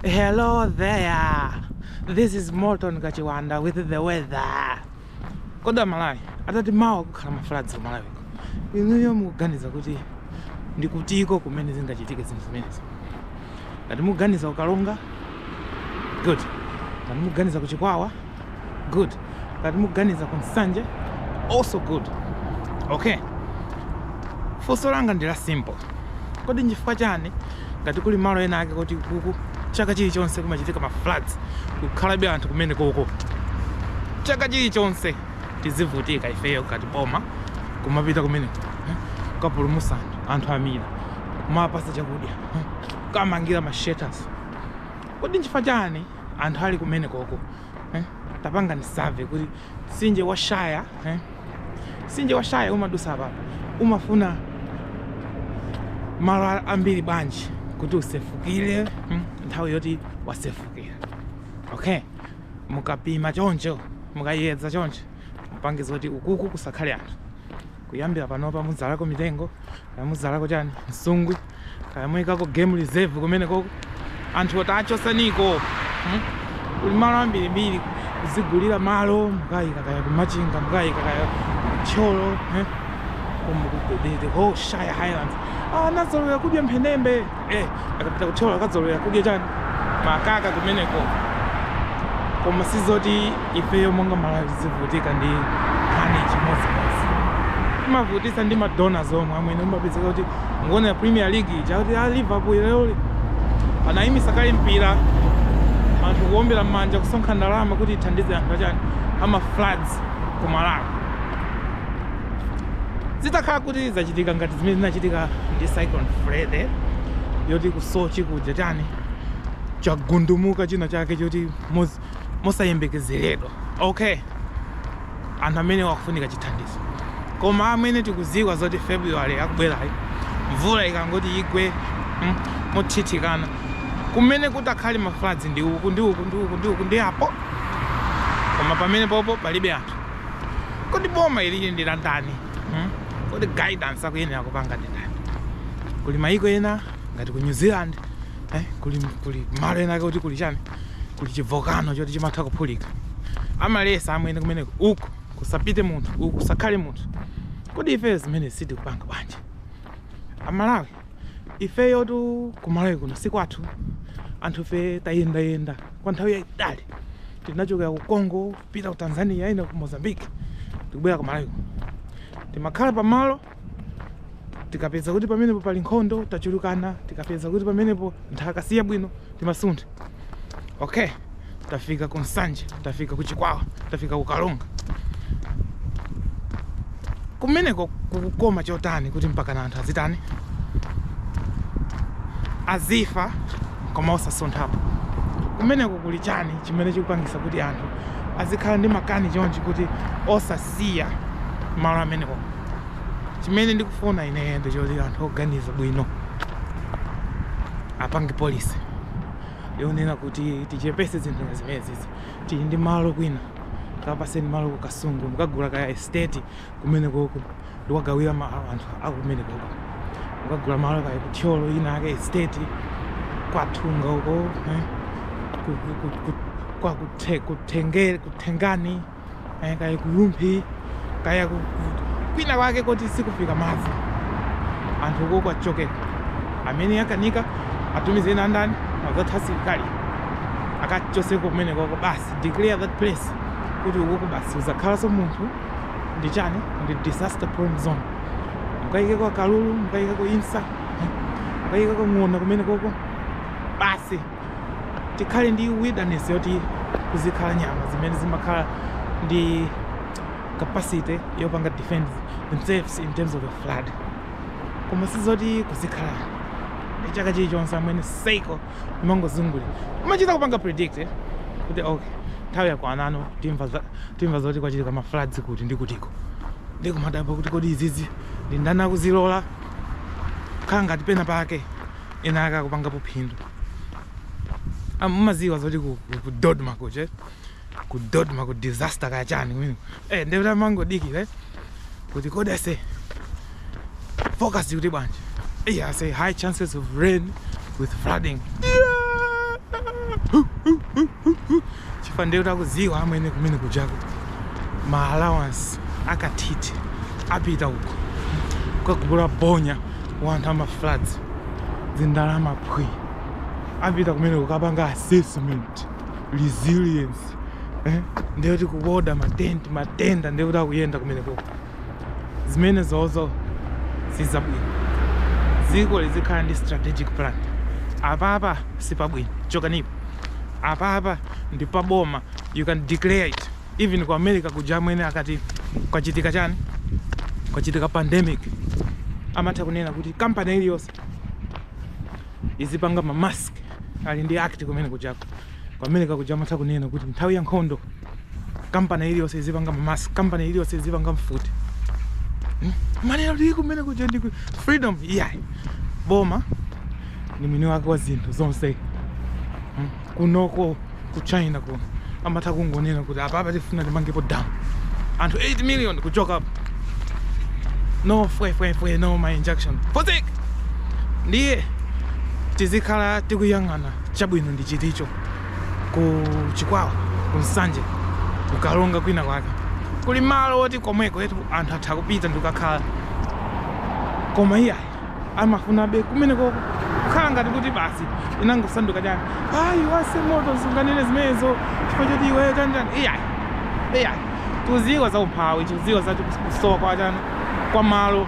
Hello there. This is Morton Kachiwanda with the weather. Kodi Malawi akuti mawa kukhala mafloods ku Malawi. Inuyo mukuganiza kuti ndi kutiko kumene zingachitike zinthu zimenezi. Ngati mukuganiza ukalonga good. Ngati mukuganiza kuchikwawa good ngati muganiza ku nsanje also good okay funso langa ndi la simple kodi nchifukwa chani ngati kuli malo ena ake kuti kuku chaka chilichonse kumachitika ma floods kukhalabe anthu kumene koko chaka chilichonse tizivutika ifeyo ngati boma kumapita kumeneko eh, kapulumusa anthu anthu amira kumapasa chakudya eh, kamangira ma shelters kodi nchifukwa chani anthu ali kumenekoko eh? tapangani survey kuti mtsinje wa Shire eh? mtsinje wa Shire umadusa apa umafuna malo a- ambiri bwanji kuti usefukire hmm? nthawi yoti wasefukira okay mukapima choncho mukayedza choncho mupangiza kuti ukuku kusakhale anthu kuyambira panopa mudzalako mitengo kaya mudzalako chani msungwi kaya muyikako game reserve kumeneko anthu tachotsaniko hmm? kuli malo ambirimbiri kuzigulira malo mukayika kaya kumachinga mukayika kaya ku Thyolo eh? koma ku the whole Shire highlands anazolowera kudya mphenembe eh akapita kuthyolo akadzolowera kudya chani makaka kumeneko koma sizoti ifeyo monga malawi tizivutika ndi nkhani chimodzimodzi imavutisa ndi madonors omwe amwene umapezeka kuti mukuonera premier league ija kuti a liverpool lero anayimitsa kaye mpira anthu kuombera m'manja kusonkha ndalama kuti ithandize anthu achani ama floods ku malawi zitakhala kuti zachitika ngati zimene zinachitika ndi cyclone freddy yoti ku sochi kuja chani chagundumuka china chake choti mos- mosayembekezeredwa okay anthu amene akufunika chithandizo koma amene tikuziwa zoti february akubwerayi mvula ikangoti igwe mm, motsitsikana kumene kutakhale mafloods ndi uku ndi uku ndi uku ndi uku ndi apo koma pamene popo pali be anthu kodi boma ili ndi la ndani hmm? kodi guidance akuyenera kupanga ndi ndani kuli mayiko ena ngati ku new zealand eh, kuli, kuli malo ena kuti kuli chani kuli chivolcano choti chimatha kuphulika amalesa amwene kumeneko uku kusapite munthu uku kusakhale munthu kodi ife zimene sitikupanga bwanji amalawi ifeyo tu kumalawi kuno si kwathu anthu fe tayendayenda kwa nthawi yayitali tinachokera ku congo kupita ku Tanzania ina ku Mozambique ndikubwera ku Malawi timakhala pamalo tikapeza kuti pamenepo pali nkhondo tachulukana tikapeza kuti pamenepo nthaka si yabwino timasuntha okay tafika ku Nsanje tafika ku Chikwawa tafika ku Karonga kumeneko kukoma chotani kuti mpakana anthu azitani azifa koma osasunthapo kumeneko kuli chani chimene chikupangisa kuti anthu azikhala ndi makani chonchi kuti osasiya malo amenewo chimene ndikufuna ineyo ndichoti anthu oganiza bwino apange polisi yonena kuti tichepese zinthu zimenezizi tili ndi malo kwina kapaseni malo ku kasungu mukagula kaya estate kumenekoko ndikuwagawira malo anthu akumenekoko ukagula malo kaya ku Thyolo ina ake estate kwa Thunga uko eh, ku- ku- ku- ku- kwa kuthe- kuthenge- kuthengani eh, kaya ku Rumphi kaya ku- ku- kwina kwake koti sikufika madzi anthu uko kwachokeka amene akanika atumize ena ndani azatha asilikali akachoseko kumenekoko basi declare that place kuti ukoko basi suzakhalanso munthu ndi chani ndi disaster prone zone mukayikeko akalulu mukayikeko insa mukayikeko ng'ona kumene koko basi tikhale ndi wilderness yoti kuzikhala nyama zimene zimakhala ndi capacity yopanga defend themselves in terms of a flood koma sizoti kuzikhala ndi chaka chilichonse amwene cycle imangozungulira umachita kupanga predict eh, kuti ok nthawi yakwanano timva za- timva zoti kwachitika ma floods kuti ndi kutiko ndikumadabwa kuti kodi izizi ndi ndani akuzilola khala ngati pena pake ena ake akupangapo phindu Ah, mumaziwa zoti ku- ku- ku dodma kuche ku dodma ku disaster kaya chani kumene eh ndekuti amangodikira eh kuti kodi a SADC forecast akuti bwanji eh ase high chances of rain with flooding chifa ndekuti akuziwa amwene kumene kujako ma allowance akatiti apita uko kukagula bonya wa anthu ama floods zindalama phwi apita kumeneko kukapanga assessment resilience eh? ndiye kuti kuoda matenti matenda ndiye kuti akuyenda kumenekoko zimene zozo sizabwino dziko lizikhala ndi strategic plan apapa sipabwino chokanipo apapa ndi paboma you can declare it even ku america kuja amwene akati kwachitika chani kwachitika pandemic amatha kunena kuti kampani iliyonse izipanga ma mask ali ndi act kumene kujako ku America kuja amatha kunena kuti nthawi ya nkhondo kampani iliyonse izipanga ma mask kampani iliyonse izipanga mfuti hmm? ndiye eno ali kumene kuja ndi freedom iyayi boma ni mwini wake wa zinthu zonse hmm? kunoko ku china kuno amatha kungonena kuti apapa tifuna timangepo dam anthu 8 million kuchokapo no fwefwefwe no ma injunction fotik ndiye tizikhala tikuyang'ana chabwino ndi chiticho ku chikwawa ku nsanje kukalonga kwina kwake kuli malo oti komwekoetu anthu atha kupita ndikukakhala koma iyayi amafunabe kumenekoko kukhala ngati kuti basi inangosanduka chani ayi wase moto sunganene zimenezo chifukwa choti iweyo chanjani iyayi iyayi tuziwa za umphawi tuziwa za kusowa kwa chani kwa malo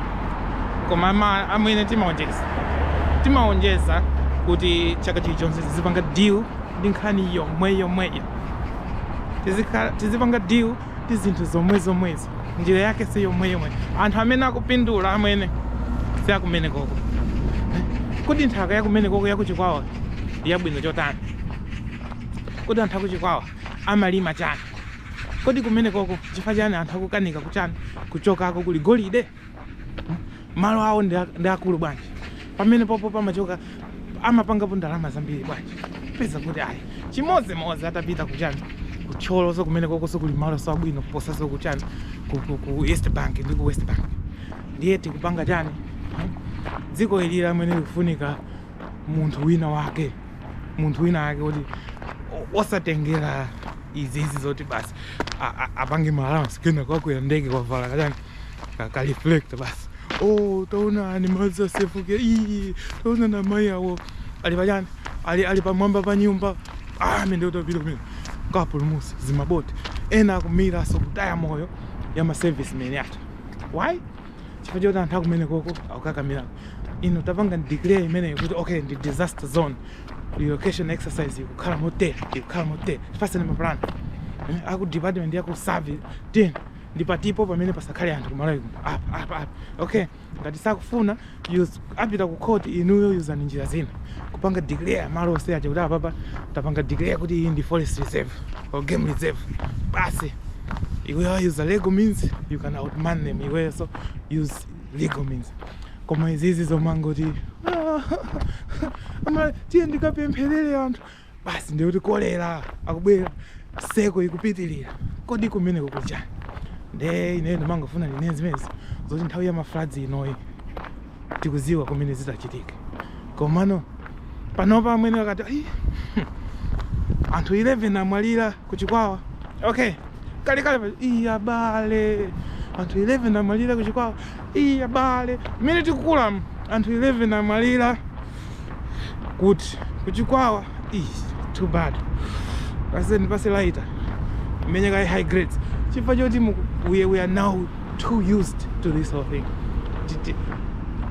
koma ama- amwene timaonjeza timaonjeza kuti chaka chilichonse tizipanga deal ndi nkhani yomwe yomweyo Tizikhala- tizipanga deal ndi zinthu zomwe zomwezo njira yake si yomwe yomweyo anthu amene akupindula amwene si akumenekoko kodi nthaka yakumenekoko yakuchikwawa yabwino chotani kodi anthu akuchikwawa amalima chani kodi kumenekoko chifukwa chani anthu akukanika kuchani kuchokako kuli golide malo awo ndi a- ndi akulu bwanji pamenepopo pamachoka amapangapo ndalama zambiri bwanji peza kuti ayi chimodzimodzi atapita kuchani kuthyoloso kumenekokoso kuli maloso abwino kuposaso kuchani ku, ku, ku east bank ndi ku west bank ndiye tikupanga chani Hmm? dziko ili amwene likufunika munthu wina wake munthu wina wake kuti o- osatengera izi izi zoti basi a- a- apange ma allowance kena kwakwera ndege kavala kachani kaka reflector basi oh taonani madzi asefukira ii taonani amayi awo ali pachani ali ali pamwamba pa nyumba ah amwene utapita kumene kapulumusa zimaboti ena akumiranso kutaya moyo ya maservicemen athu why chifukwa choti anthu akumenekoko akukakamira ino tapanga declare imeneyo kuti okay ndi disaster zone relocation exercise ikukhala motere ikukhala motere fasani mapulani aku department yaku survey then ndi patipo pamene pasakhale anthu kumalawi kuno apa apa apa okay ngati sakufuna yus- apita ku court inuyo yuzani njira zina kupanga declare malo onse aja kuti apapa tapanga declare kuti iyi ndi forest reserve or game reserve basi iweyo use legal means you can outman them iweyo so use legal means koma izizi zomangoti ama tiye ndikapempherere anthu basi ndiye kuti kolera akubwera seko ikupitirira kodi kumene kukujani nde ineyo ndimangofuna ndinene zimenezi zoti nthawi ya mafloods inoyi tikuziwa kumene zizachitike komano panopa amwene akati "Ai, anthu 11 amwalira ku Chikwawa. Okay. Kale kale pa- iya abale. Anthu 11 amwalira ku Chikwawa. Iya abale. Mmene tikukula mu, anthu 11 amwalira kuti ku Chikwawa. Ih, too bad. Paseni pase lighter. Menya kaye high grades. Chifukwa choti mu- we we are now too used to this whole thing. Ti- ti-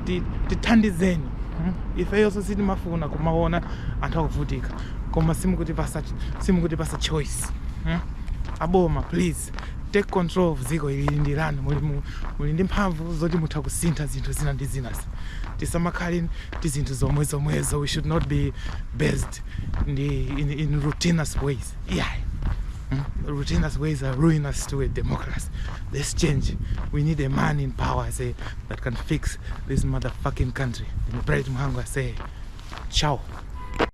ti- Tithandizeni. Hmm? Ifeyonso sitimafuna kumaona anthu akuvutika. koma simukutipasa simukutipasa choice hmm? aboma please take control of dzikoli ndi lanu muli, mu- muli ndi mphamvu zoti mutha kusintha zinthu zina ndi zinazi tisamakhale ndi zinthu zomwe zomwezo we should not be based ndi in, in routinous ways yeah Mm. Routinous ways are ruinous to a democracy. Let's change. We need a man in power I say, that can fix this motherfucking country. And Bright Mhango I say, ciao.